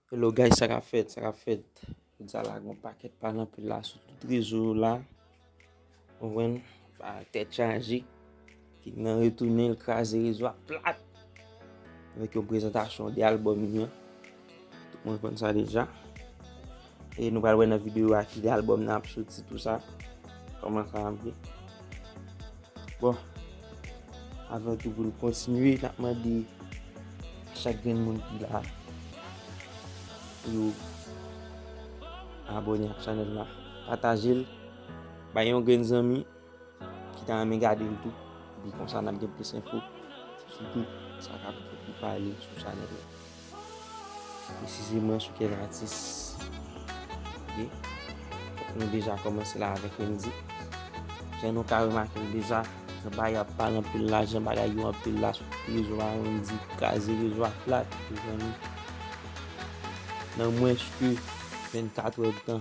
Hello guys sa kap fèt sa kap fèt jodia la gon pakèt pale anpil la sou tout rezo yo la konprann pa tèt chaje ki nan retounen l kraze rezo a plat avèk yon prezantasyon 2 album li an tout moun konn sa deja. E nou pral wè nan video a ki lè album nan ap soti tout sa. Koman sa ap ye. Bon. Avan tou pou nou kontinye nap mande a chak grenn moun ki la. Pou yo abone ak chanel la. Pataje l. Bay yon grenn zanmi. ki ta renmen gade l tou. Epi konsa n ap gen plis enfo sou tout sa k ap pale sou chanèl la. Presizeman sou kèk atis. Nou deja kòmanse la avèk Wendy. Jan nou ka remake l deja, anba y ap pale anpil la, jan bagay yo anpil la sou rezo a, Wendy kraze rezo a plat. Nan mwens ke 24 è tan.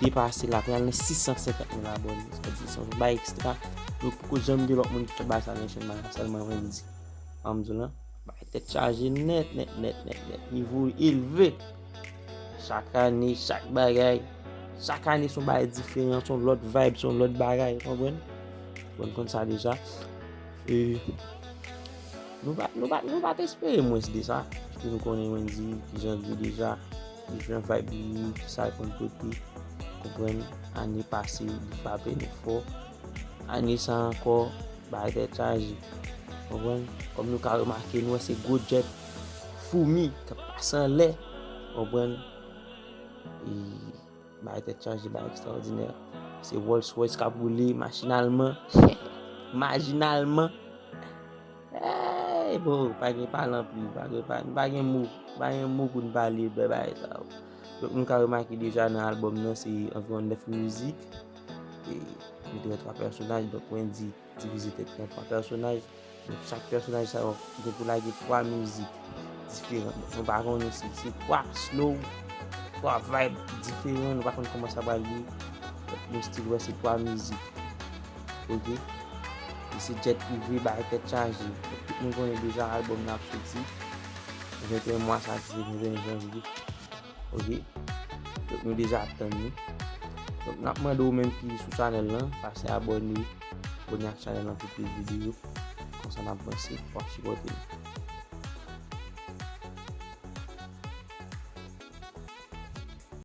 depase la pral nan 650 mil abòne sa vle di se yon bagay ekstra nou poko janm gen lòt moun ki fè bagay sa nan chèn maya sèlman Wendyy sa m di w la bagay tèt chaje nèt nèt nèt nèt nèt nivo yo elve chak ane chak bagay chak ane se yon bagay diferan se yon lòt vayb se yon lòt bagay ou konprann bon nou konn sa deja e nou pa nou pa nou pa te espere mwens de sa paske nou konnen Wendyy kijan l ye deja. Jan vibe li ye ki sa l konn pote konprann ane pase li frape nou fò ane sa ankò bagay tèt chaje konprann kòm nou ka remake nou wè se gwo jet foumi k ap pase anlè konprann e Bagay tèt chaje, bagay ekstraòdinè. Se Rolls Royce k ap woule machinalman. Majinalman. Eey bro, pa gen pale anpil. Nou pa gen mo. Nou pa gen mo pou nou pale de bèl bagay sa yo. Donk nou ka remake deja nan albòm nan se anviwon 9 mizik. E nou te wè 3 pèsonaj, donk Wendyy. Divize tèt nou an 3 pèsonaj, donk chak pèsonaj sa yo gen pou lage 3 mizik diferan. Donk nou pa konnen si se 3 slow, 3 vayb diferan, nou pa konnen kòman sa pral ye. Donk nou stil wè se 3 mizik. Ok. E se jet prive bay tèt chaje. Donk tout moun konnen deja albòm nan ap soti 21 mwa sa ki se 21 janvye. Ok Donk nou deja ap tann li Donk nap mande ou menm ki sou chanèl lan Pase abòne Abòne ak chanèl lan pou plis videyo Konsa nap vanse Wap sipòte nou